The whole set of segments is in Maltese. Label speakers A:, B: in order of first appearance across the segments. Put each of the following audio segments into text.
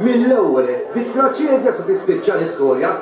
A: Mill-ewwel, bi traċedja se tispiċċa l-istorja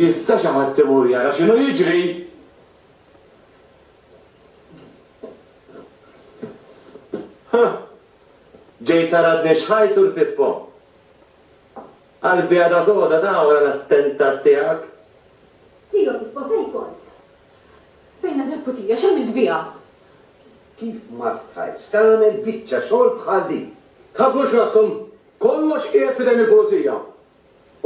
B: Jista' xi ħadd imur jara x'inhu jiġri? Ħa! Ġej taradni x'ħaj Sur Pippo? Qalbi għadha soda ta' wara l-attentat tiegħek. Tio
C: Pippo fejn kont? Fejn
D: għad il-putija? X'għamilt biha? Kif
A: ma stajtx tagħmel biċċa xogħol bħal din? Tħabbux raskom!
E: Kollox qiegħed f'idejn il-Pulizija!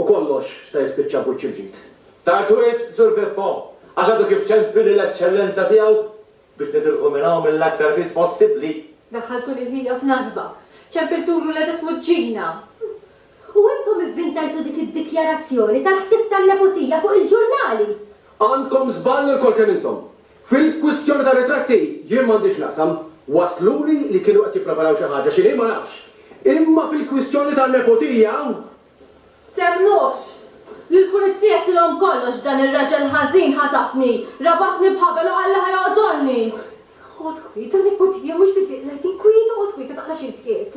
E: U kollox se jispiċċa b'wiċċ il-ġid. Tard wisq,
B: Sur Pippo, għax għadu kif ċempi lill-Eċċellenza tiegħu biex titilqu minn hawn mill-aktar fis possibbli. Daħħaltu lil
D: ħija f'nasba! Ċempiltulu l-għeda f'wiċċina! U
C: intom ivvintajtu dik id-dikjarazzjoni tal-ħtif tan-nepotija fuq il-ġurnali! Għandkom
E: żball ilkoll kemm intom. Fil-kwistjoni tar-ritratti, jien m'għandi x'naqsam. Wassluli li kienu qed jippreparaw xi ħaġa, x'inhi ma nafx. Imma fil-kwistjoni tan-nepotija.
D: Temnux! Lill-Pulizija tilhom kollox, dan ir-raġel ħażin ħatafni, rabatni b'ħabel u qal li ħa joqtolni! Oqgħod kwiet, in-nepotija mhux biss hi qiegħda inkwiet, oqgħod kwiet, ma tibqax iżjed.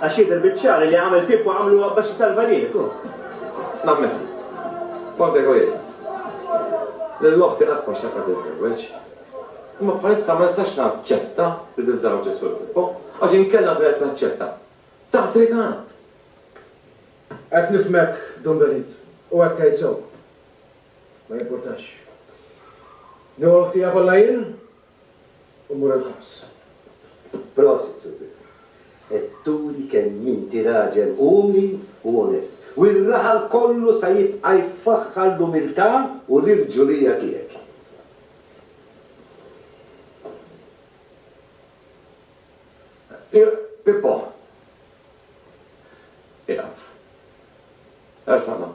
F: Għax jidher biċ-ċar li għamel Pippo għamluha bax isalva lilek hu. Nammen.
B: Kont egoist. Lil oħti qatt ma xtaqtha tiżżewweġ. Imma bħalissa ma nistax naċċetta li tiżżewweġ is-Sur Pippo, għax inkella kienet taċċetta. Taħt rikatt!
E: Qed nifhmek, Dun Benit, u qed tgħid sew. Ma jimpurtax. Nieħu l-ħtija kollha jien? u mmur il-ħabs. Prosit,
A: Sur Vittore. Qed turi kemm inti raġel umli u onest, u r-raħal kollu se jibqa' jfaħħar l-umiltà u l-irġulija tiegħek.
B: Pippo! Iqaf. Ersaq ma.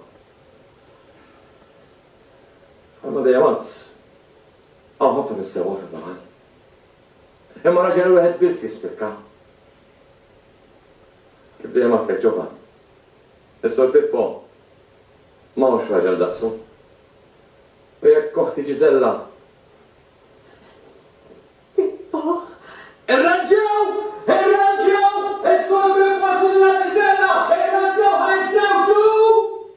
B: Għandna dejjem għadd. Hawn ħafna mis-sewwa fil-baħar. Imma raġel wieħed biss jispikka. Kif dejjem għadtek Ġovann. Is-Sur Pippo ma hux raġel daqsu. U jekk oħti Ġiżella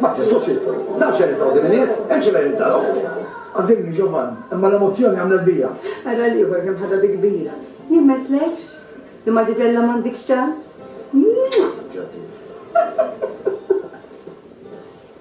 A: Ma tistax int. Naf x'qed jitolbu din in-nies, imxi lejn id-darhom.
E: Għaddilni, Giovanni, imma l-emozzjoni għamlet bija. Ara l-ieħor kemm
G: ħadha bi kbira. Jien ma għedtlekx? Li ma' Gisella m'għandikx ċans. Mwah!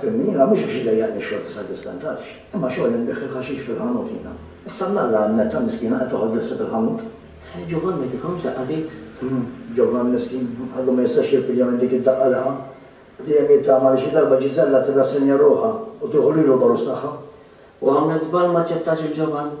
H: Fehimni,
I: jiena mhux biex iddejjaqni x-xogħol ta' sagristan, tafx, imma xogħol li nbiegħ il-ħaxix fil-ħanut jiena. Issa mnalla hemm Netta miskina qed toħod l-ħsieb il-ħanut. Ġovanni
H: tikhomx daqqa t'id? Hm, Ġovanni
I: miskin, għadu ma jistax jirpilja minn dik id-daqqa li ħa. Dejjem jittama li xi darba Ġiżella tirrassenja ruħha u tieħu lilu l-għorus tagħha. U għamlet
H: żball m'aċċettax lil Ġovanni.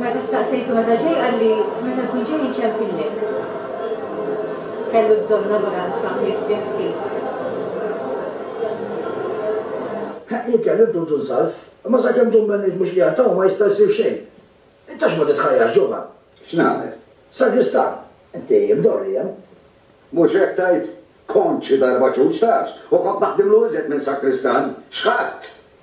G: Meta staqsejtu meta ġej qalli meta
I: jkun ġej inċempillek. Kellu bżonn ta' vaganza u jistrieħ ftit. Ħa jien kelli ntutu nsalv, imma sakemm dun Bennejt mhux qiegħed hawn ma jista' jsir xejn. Int għax ma titħajjarx ġuvan? X'nagħmel?
A: Sagristan,
I: inti mdorri hemm. Mhux hekk
A: tgħid? Kont xi darba ċuċ tafx, u kont naħdimlu iżjed minn sagristan. X'ħadt?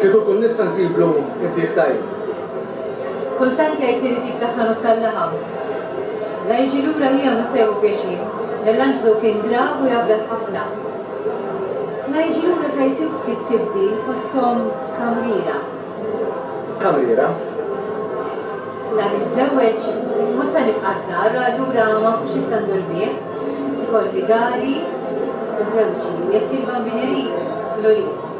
E: Kieku nkun nista' nsiblu impjieg tajjeb.
G: Kultant jgħid li jrid jiftaħ ħanut tal-laħam. La jiġi lura miegħu Musè u pjaċir, li l-anġlu kien grav u jgħabbet ħafna. La jiġi lura se jsib ftit tibdil fosthom kamriera.
E: Kamriera?
G: La niżżewweġ, mhux se nibqa' d-dar, allura ma nkunx nista' ndur bih. Ikolli dari u żewġi u jekk il-bambin irid, l-ulied.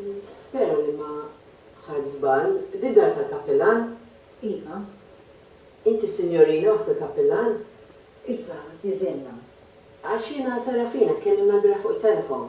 G: Nispera li ma ħadt żball. Din dar tal-kappillan? Iva. Inti sinjorina waħda l-kappillan? Iva,
C: Ġiżella. Għax
G: jiena Serafina tkellimna l-bieraħ fuq it-telefon.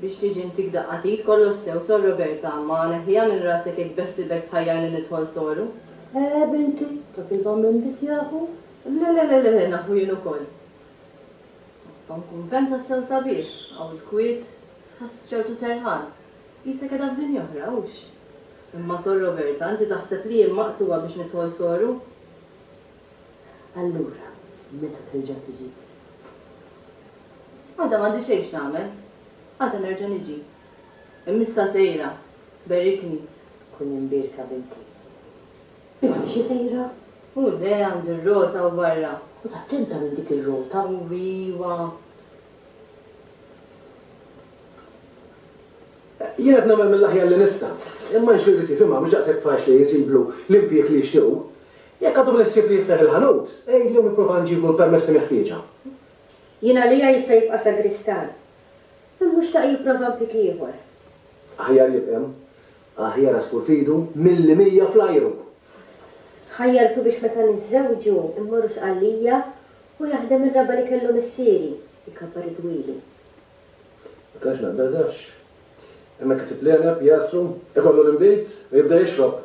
G: Biex tiġi ntik daqqa t'id kollox sew sor Roberta, ma neħħiha minn rasek jekk beħsibek tħajjarni nidħol soru. Eeh binti,
C: dak il-bambin biss jafu? Le le le le
G: nafu jien ukoll. Kont f'hawn kunvent tassew sabiħ, hawn il-kwiet, tħoss ċertu serħan. Qisek qiegħda f'dinja oħra, hux? Imma sor Roberta, inti taħseb li jien maqtugħa biex nidħol soru? Allura meta terġa' tiġi? Għada m'għandi xejn x'nagħmel. Għada nerġa' niġi. Imma issa sejra. Berrikni. Kun imbierka binti. Imma
C: m'iniex sejra. U le,
G: għandi r-rota hawn barra. Ħod attenta lil
C: dik ir-rota. U iwa.
E: Jien qed nagħmel mill-aħjar li nista'. Imma Anġlu jrid jifhimha mhux daqshekk faċli jsiblu l-impieg li jixtiequ. Jekk għadu bl-ħsieb li jiftaħ il-ħanut, għidlu nipprova nġiblu l-permessi meħtieġa. Jien
C: għalija jista' jibqa' sagristan. Imma hu xtaq jipprova mpik ieħor. Aħjar
E: jibqa' hemm. Aħjar għasfur f'idu milli mija fl-ajru.
C: Ħajjartu biex meta niżżewġu mmorru Sqallija u jaħdem ir-raba' li kellu missieri, ikabbar id-dwieli.
E: Ma tantx naqbel tafx. Hemmhekk isib l-għeneb, jagħsru, ikollu l-inbid u jibda jixrob.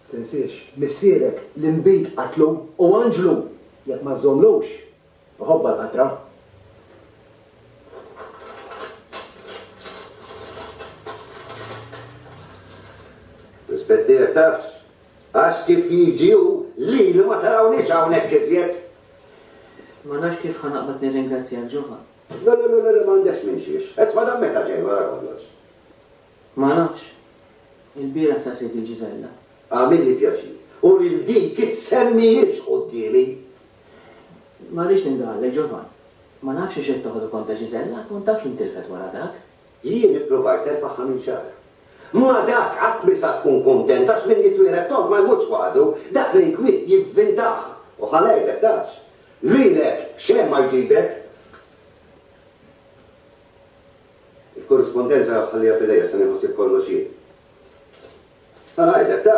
E: Tinsiex, missierek l-inbid qatlu u għanġlu jekk ma żżommlux. Iħobbha l-qatra.
A: Rispett tiegħek tafx. Għax kif jiġi hu lili ma tarawniex hawnhekk iżjed.
H: Ma nafx kif ħa naqbad nirringrazzjak, Ġovan. Le, le, le, le,
A: m'għandekx minn xiex. Isma' dan meta ġej wara kollox. Ma
H: nafx. Il-bieraħ sa Sidi Ġiżella. Għamilli
A: pjaċir. U lil dik is-sem mhijiex quddiemi.
H: Ma rridx nindaħallek, Giovann. Ma nafx għiex qed toħdu kont ta' Gisella, kont taf li ntilfet wara dak. Jien ippruvajt
A: nerfagħha minn xahar. Ma dak qatt mhi sa tkun kuntent għax min jitwieled tond ma jmutx waħdu, dak li jinkwiet jivvintah u ħa ngħidlek tafx. Lilek xejn ma jġibek. Il-korrispondenza ħalliha f'idejja se nieħu ħsieb kollox jien. Ħa ngħidlek ta.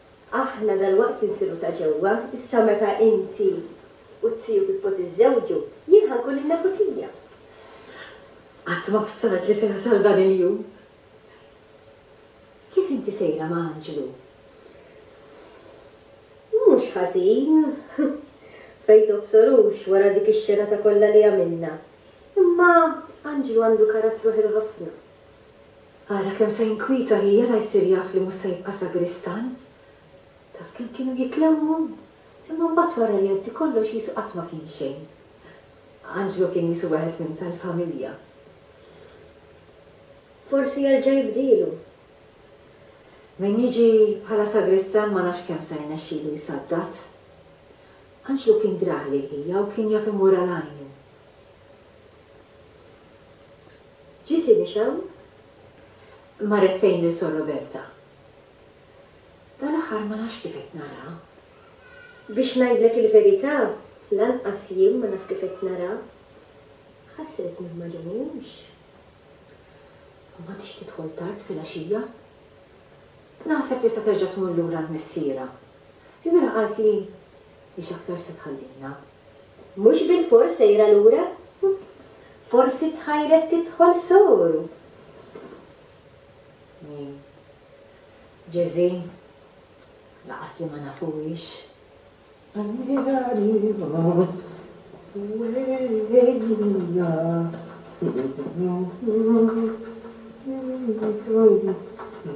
C: Aħna dalwaqt insiru ta' ġewwa, issa meta inti u t-tiju Pippo tiżżewġu, jien ħa nkun in-nepu tija.
G: Qatt ma bsart li se jasal dan il-jum.
C: Kif inti sejra ma' Anġlu? Mhux ħażin. Fejn tobsorux wara dik ix-xenata kollha li għamilna. Imma Anġlu għandu karattru ħelu ħafna. Ara
G: kemm se jinkwieta li jara jsir jaf li mhux se jibqa' sagristan. Taf kemm kienu jitlewwu? Imma mbagħad wara li għaddi kollox qisu qatt ma kien xejn. Anġlu kien qisu wieħed minn tal-familja.
C: Forsi jerġa' jibdielu.
G: Minn jiġi bħala sagristan ma nafx kemm se jirnexxilu jsaddad. Anġlu kien drah lil ħija u kien jaf imur għal għajnu.
C: Ġie Sinixew marrettejn
G: lil Sor Roberta. Dal-aħħar ma nafx kif qed nara. Biex
C: ngħidlek il-verità, lanqas jien ma naf kif qed nara. Ħasret min ma ġenihiex.
G: U m'għadhiex tidħol tard filgħaxija. Naħseb li se terġa' tmur lura għand missierha. Il-mira qaltli li x'aktarx se tħallina. Mhux
C: bilfors sejra lura? Forsi tħajret tidħol soru.
G: Jien, Ġeżi, lanqas li ma nafuhiex.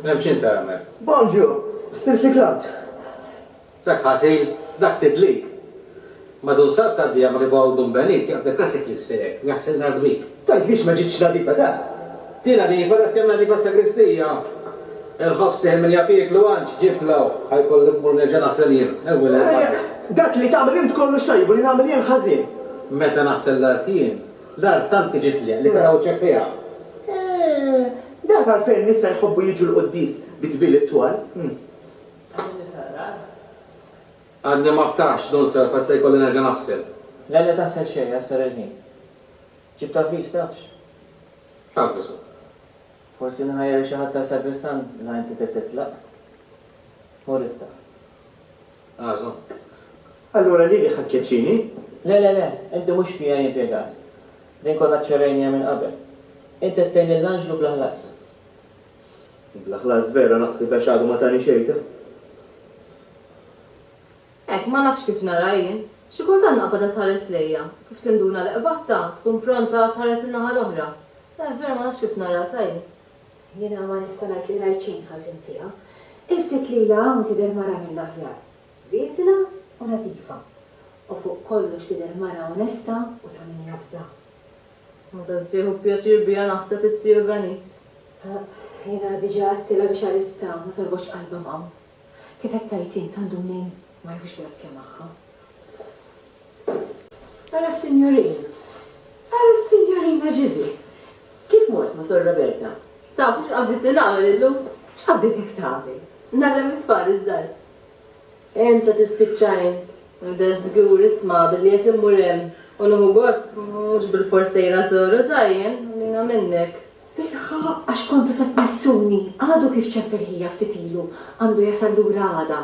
G: Hemm x'inti
J: għamel? Bonġu! Ħsirt li klamt.
I: Dak
J: ħażin, dak tidlib! Madun sar ta' dieqa ma li bogħod dun benit, jaqbdek rasek l-ispirek, u jaħsil l-ardwik. Tgħidlix ma ġietx
I: nadifa da! Ti nadifa
J: daqs kemm nadifa s-sagristija! Il-ħobż tieħi min jaf jieklu, għandx ġib l-għawħ, ħa jkolli immur nerġa' naħsel jien, ewwi lejn barra.
I: Dak li tagħmel int kollu xtajjeb u li nagħmel jien ħażin! Meta naħsel
J: l-art jien, l-art tant tiġitli li tara wiċċek fiha! Eeh!
I: Dak għalfejn n-nisa jħobbu jiġu l-quddies bi dbil it-twal! Tagħmilni
J: sarrad? Għadni ma ftaħtx, Don Serf, għad se jkolli nerġa' naħsel. Le, le taħsel
H: xejn, qessar il-ħin. Ġibt avviż, tafx? X'avviż
J: hu?
H: Forsi nħajjar xi ħadd għal sagristan la inti trid titlaq. Mur iftaħ.
J: Għażu.
F: Allura lili ħa tkeċċini? Le, le, le,
H: inti mhux PA impjegat. Din kollha ċċerejnija minn qabel. Int qed tgħin lill-anġlu bla ħlas.
F: U bla ħlas vera naħseb għax għadu ma tani xejta.
D: Hekk, ma nafx kif nara jien. Xi kultant naqbad qed tħares lejja, kif tinduna li qbadtha, tkun pronta tħares in-naħa l-oħra. Eh, vera ma nafx kif nara, tajni. Jiena ma
G: nista' ngħid li rajt xejn ħażin fiha. Il-ftit li ilha hawn tidher mara mill-aħjar. Rieżla u nadifa. U fuq kollox tidher mara onesta u ta' min jafda. Meta
D: ssieħu b'pjaċir biha naħseb itsir benit. Jiena
G: diġà għedtilha biex għalissa ma torbotx qalbha m'hawn. Kif qed tgħid int għandu mnejn ma jħux grazzja magħha. Ara s-sinjorina, ara s-sinjorina Ġiżi! Kif mort ma' Sor Roberta? Taf x'qabditni
D: nagħmel illum? X'qabditek
G: tagħmel? Ngħallem it-tfal
D: iż-żgħar. Hemm sa tispiċċa int. Nibda żgur isma' billi qed immur hemm u nieħu gost, mhux bilfors sejra żuru ta' jien, għalina minnek. Bilħaqq, għax
G: kontu se tmissuni, għadu kif ċepp il-ħija ftit ilu, għandu jasal lura għada.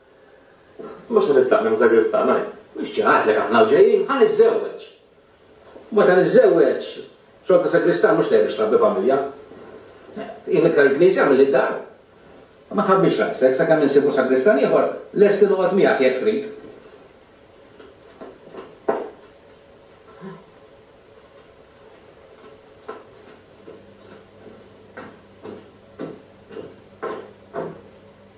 B: Mhux ħa nitlaq minn Żagristan, għid. Mhux ġa għedtlek aħna u ġejjin, ħa niżżewweġ. U meta niżżewweġ, xogħol ta' Żagristan mhux dejjem biex trabbi familja. Tqim iktar il-Knisja milli d-dar. Ma tħabbix rasek, sakemm insibu Żagristan ieħor, lest li noqgħod miegħek jekk trid.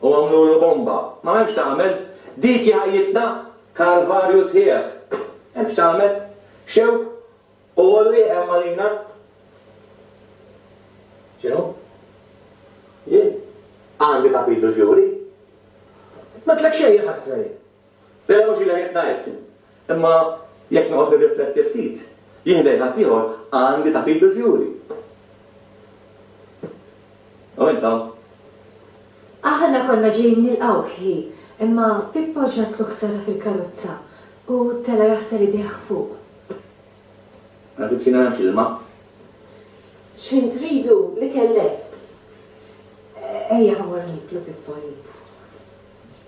K: U għamlulu bomba. Ma hemmx tagħmel. Dik hi ħajjitna. Kalvarju sħiħ. Hemmx tagħmel. Xewk u għolli hemm għalina. X'inhu? Jien? Għandi kapitlu x'juri?
E: M'għedtlek xejn, il-ħasra jien. Però ġieli
K: qed ngħid, imma jekk noqgħod nirrifletti ftit, jien lejn ħaddieħor għandi tagħtih bil-fjuri. U int hawn.
G: Aħna konna ġejjin nilqgħuh hi, imma Pippo ġratlu ħsara fil-karozza u tela' jaħsar idejh fuq.
K: Għad ibsina nagħmx ilma.
G: X'ħin tridu? L-ikel lest. Ejja ħa mmorru niklu, Pippo għalib.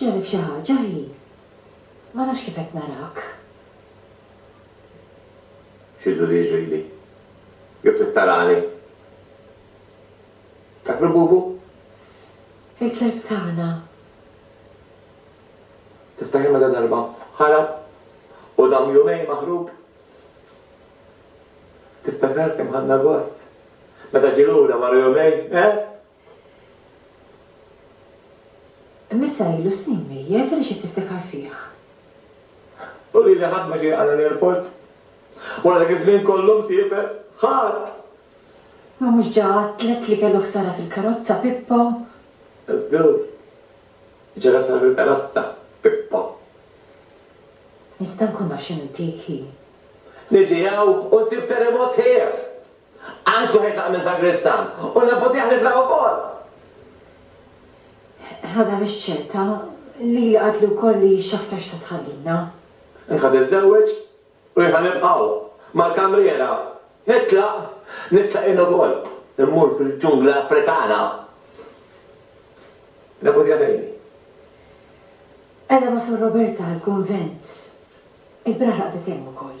G: Ġarrab xi ħaġa hi? Ma nafx kif qed narak.
K: X'illu li jiġrili? Jew trid tarani? Tiftakru Bubu?
G: Il-kelb tagħna.
K: Tiftakri meta darba ħarab u dam jumejn maħrub? Tiftakar kemm ħadna gost meta ġie lura wara jumejn, eh?
G: Missa ilu snin mejjet għaliex qed tiftakar fih?
B: U lili ħadd ma ġie għal l-airport? Wara dak iż-żmien kollu msiefer? Ħadd!
G: Ma mhux ġa għedtlek li kellu ħsara fil-karozza, Pippo? Żgur.
B: Ġara ħsara fil-karozza, Pippo.
G: Nista' nkun naf x'inhu dik hi? Niġi
K: hawn u nsib Teremos sħiħ! Għax ġo ħajtlaq minn sagristan u nabboddih nitlaq ukoll!
G: Ħana mhix ċerta, lili qaltli wkoll li hi x'aktar x'se tħallina. Int ħa
K: tiżżewweġ u jien ħa nibqa' hawn mal-kamriera. Nitlaq, nitlaq jien ukoll, immur fil-ġungla Afrikana. Nabboddih lili. Qegħda
G: ma' Sor Roberta għall-kunvent. Il-biraħ raqdet hemm ukoll.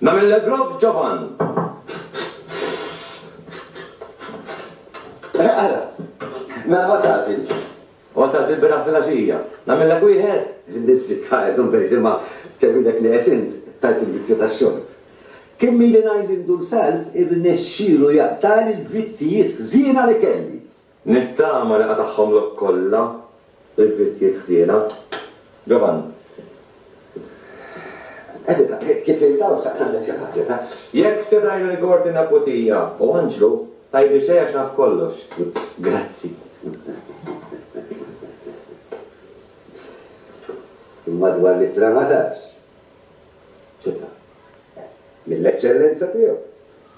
K: Nagħmel l-ebrok ġovan.
A: Eh, ara, mela wasalt int. Wasalt il-bira
K: fil-għaxija. Nagħmellek wieħed? Nissi ħajt
A: unbejt imma kemm ilek neqes int tajt il-vizzju tax-xorb. Kemm ili ngħid lil Dun Salv irnexxielu jaqtagħli l-vizzijiet ħżiena li kelli. Nittama li
K: qatagħhomlok kollha l-vizzjiet ħżiena. Giovanni. Evita,
A: kif int hawn sa kellek xi ħaġa ta. Jekk se tgħin
K: il-Korti Naputija u Anġlu, tgħidli xejn għax naf kollox. Grazzi.
A: Imma dwar l-ittra ma tafx? Ċitha. Mill-eċċellenza tiegħu.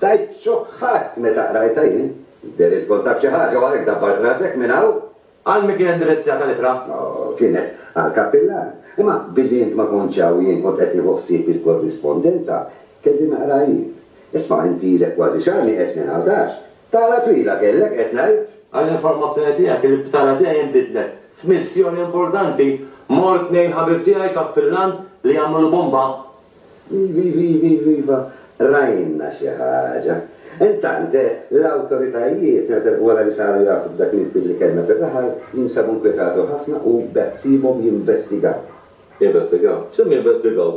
A: Tajt xokk ħadt meta qrajtha jien. Tidher li tkun taf xi ħaġa u għalhekk dabbart rasek minn hawn. Għal min kienet
K: indirizzjata l-ittra? Oh, kienet
A: għall-kappillan. Imma billi int ma kontx hawn jien kont qed nieħu ħsieb il-korrispondenza. Kelli naqra jien. Isma' int ilek kważi xahar nieqes minn Għawdax. Tala twila kellek, qed ngħid. Għall-informazzjoni tiegħek,
K: il-btala tiegħi nbidlet. F'missjoni importanti, mort tnejn ħabib tiegħi kappillan li jagħmlu l-bomba. Iva,
A: rajna xi ħaġa. Intant, l-awtoritajiet, wara li saru jafu b'dak l-inkwit li kellna fir-raħal, jinsabu nkwetatu ħafna u beħsiebhom jinvestigaw. Jinvestigaw?
K: X'hemm jinvestigaw?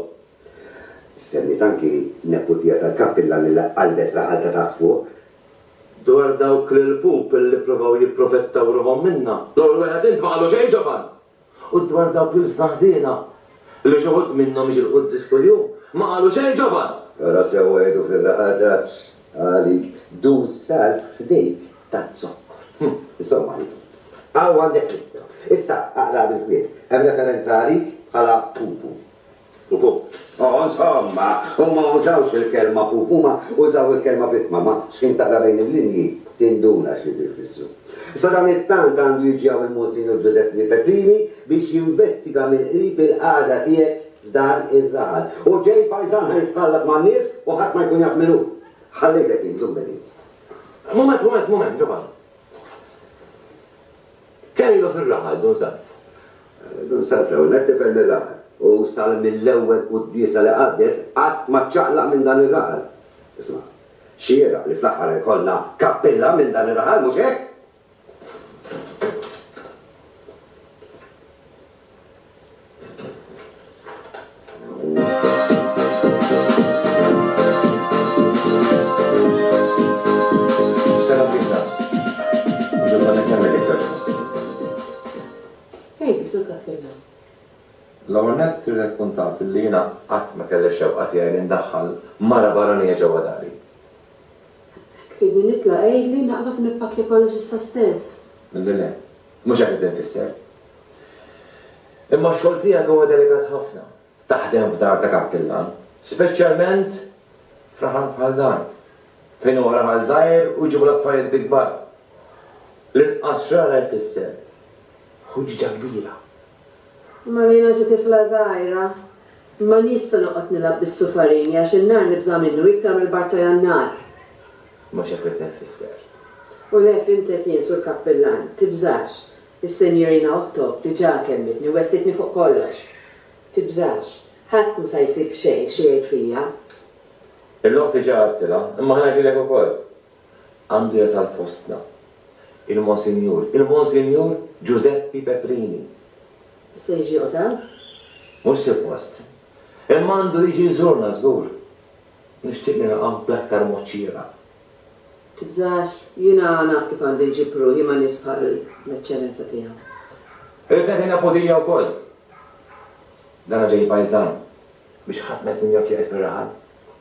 A: Semmiet anki neputija tal-kappillan li qaddgħet raħal ta' taħt fuq. Dwar
K: dawk l-ilpup li ppruvaw jipprovettaw ruħhom minna, dawn il-wegħdiet ma qalu xejn ġoban. U dwar dawk l-ilsna ħżiena, li xi
B: wħud minnhom jiġilqu l-quddies kuljum, ma qalu xejn ġoban. Ara sew għidu
A: fir-raqgħa tafx għalik duz salv f'dejk taz-zokkor. Insomma, hawn għandek l-ittra. Issa aqraha bil-kwiet. Hemm referenza għalik bħala pupu. Pupu. Ożhomma, huma ma użawx il-kelma pupu, huma użaw il-kelma vittma, ma x'ħin taqra bejn il-linji tinduna x'ridu jfissru. Sadanittant għandu jiġi hawn il-Monsinjur Ġużeppni Pepini biex jinvestiga mill-qrib il-qagħda tiegħek f'dan ir-raħal. U ġej pajżan ħa jitħallat man-nies u ħadd ma jkun jaf min hu. Ħallejtek jien, Dumbenis. Mument, mument,
B: mument, Ġovanni. Kellu fir-raħal Dun Salv. Dun
A: Salv l-ewwel nett tifel mir-raħal u sal mill-ewwel quddiesa li qaddes qatt ma ċċaqlaq minn dan ir-raħal. Isma', xieraq li fl-aħħar ikollna kappilla minn dan ir-raħal, mhux hekk?
B: L-ewwel nett irrid tkun taf li jiena qatt ma kelli x-xewqa tiegħi li ndaħħal mara barranija ġewwa dari. Jekk
G: tridni nitla' għidli, naqbad u nippakkja kollox issa stess. Le le,
B: Mhux hekk qed infisser. Imma x-xogħol tiegħek huwa delikat ħafna. Taħdem f'dar ta' kappillan, speċjalment f'raħal bħal dan, fejn huwa raħal żgħir u jġibu l-affarijiet bi kbar. L-inqas xrara jfisser ħuġġa kbira. Imma
G: jiena xi tifla żgħira, m'għandix se noqgħod nilgħab bis-sufarini għax in-nar nibża' minnu iktar mill-bar ta' Jannar. Mhux
B: hekk ridni nfisser. U le,
G: fhimtek jien, Sur Kappillan, tibżax. Is-Sinjurina Otto diġà kellmitni u wegħsidtni fuq kollox. Tibżax. Ħadd mhu sa jsib xejn xi jgħid fija. Il-logħob
B: diġà għedtilha, imma ħa ngħidilek ukoll. għandu jasal fostna il-Monsinjur, il-Monsinjur Ġużeppi Petrini. Se
G: jiġi jieqgħod hawn? Mhux
B: suppost. Imma għandu jiġi jżurna żgur. Nixtieq nilqgħu bl-aktar mod xieraq.
G: Tibżax, jiena naf kif għandi nġib ruħi ma' nies bħal l-Eċċellenza tiegħu. Irrid nagħti
B: naputija wkoll. Dan ġej pajżan biex ħadd ma jkun jaf li qiegħed fir-raħal.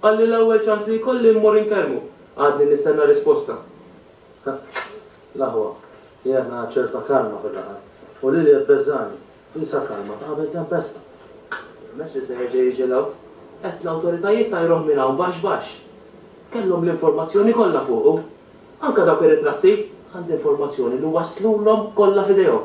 H: Qal li l-ewwel ċans li jkolli mmur inkellmu. Għadni nistenna risposta. L-aħwa,
E: jena ċerta kalma fil-laħam. U Lilia tbeżżagħni. Qisha kalma ta' qabel tempesta. M'hemmx
H: li se jerġa' jiġi l-hawn. Għedt l-awtoritajiet tajruh minn hawn baxx baxx. Kellhom l-informazzjoni kollha fuqu. Anke dawk ir-ritratti. Għandi informazzjoni li waslulhom kollha f'idejhom.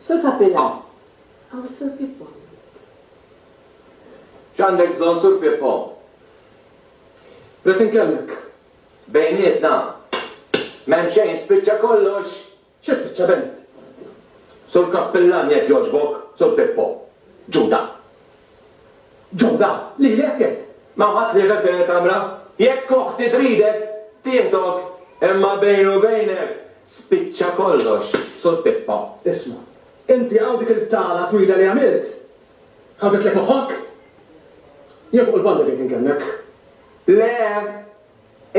D: Sur Capilà, hawn is-Sur Pippo hawnhekk.
K: X'għandek bżonn Sur Pippo? Rrid
E: inkellmek. Bejnietna.
K: M'hemm xejn, spiċċa kollox. Xi spiċċa Bennett?
E: Sur
K: Cappillan jekk jogħġbok, Sur Pippo. Ġuda.
E: Ġuda, lilek għedt, ma ħadd ħliefek f'din
K: il-kamra. Jekk oħti tridek, tieħdok, imma bejni u bejnek, spiċċa kollox sur pippa. Isma',
E: inti hawn dik il-btala twila li għamilt, ħadditlek moħħok? Jien fuq il-banda ġejt inkellmek. Le,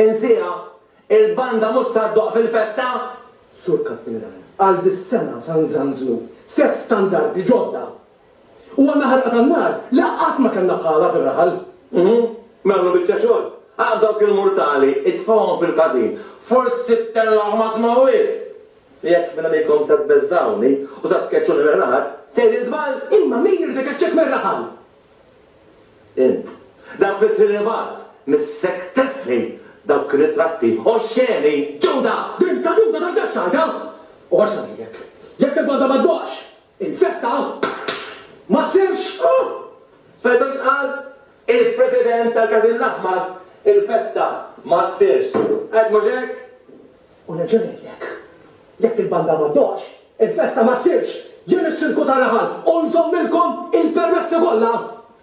K: insiha, il-banda mhux se ddoqq fil-festa! Sur
E: Kappinan, għal dis-sena se nżanżnu set standardi ġodda! U għandna ħarqa tan-nar li qatt ma kellna bħalha fir-raħal. Uhu, mela
K: għamlu biċċa xogħol. Aqgħad dawk il-murtali, itfgħuhom fil-każin. Forsi tittellgħu ma' smewwiet! Jekk minn għajnejkom se tbeżżgħuni u se tkeċċuni mir-raħal, sejrin żball! Imma min irid ikeċċek
E: mir-raħal?
K: Int. Dak li trid ibgħat, missek tifli dawk ir-ritratti oxxeni! Ġuda! Din
E: ta' Ġuda tantx tgħidha! U għax ngħidlek, jekk il-banda ma ddoqx, Infetta ma sirx hawn! Smajtux
K: x'qal il-President tal-Każin l-Aħmar? Il-festa ma ssirx. Għedt mhux hekk? U nerġa'
E: ngħidlek, jekk il-banda ma ddoqx, il-festa ma ssirx! Jien is-Sindku ta' Raħal u nżommilkom il-permessi kollha!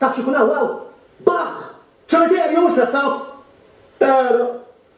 E: Taf x'ikun hawn hawn? Baħħ! Ċemiterju mhux festa! Għera!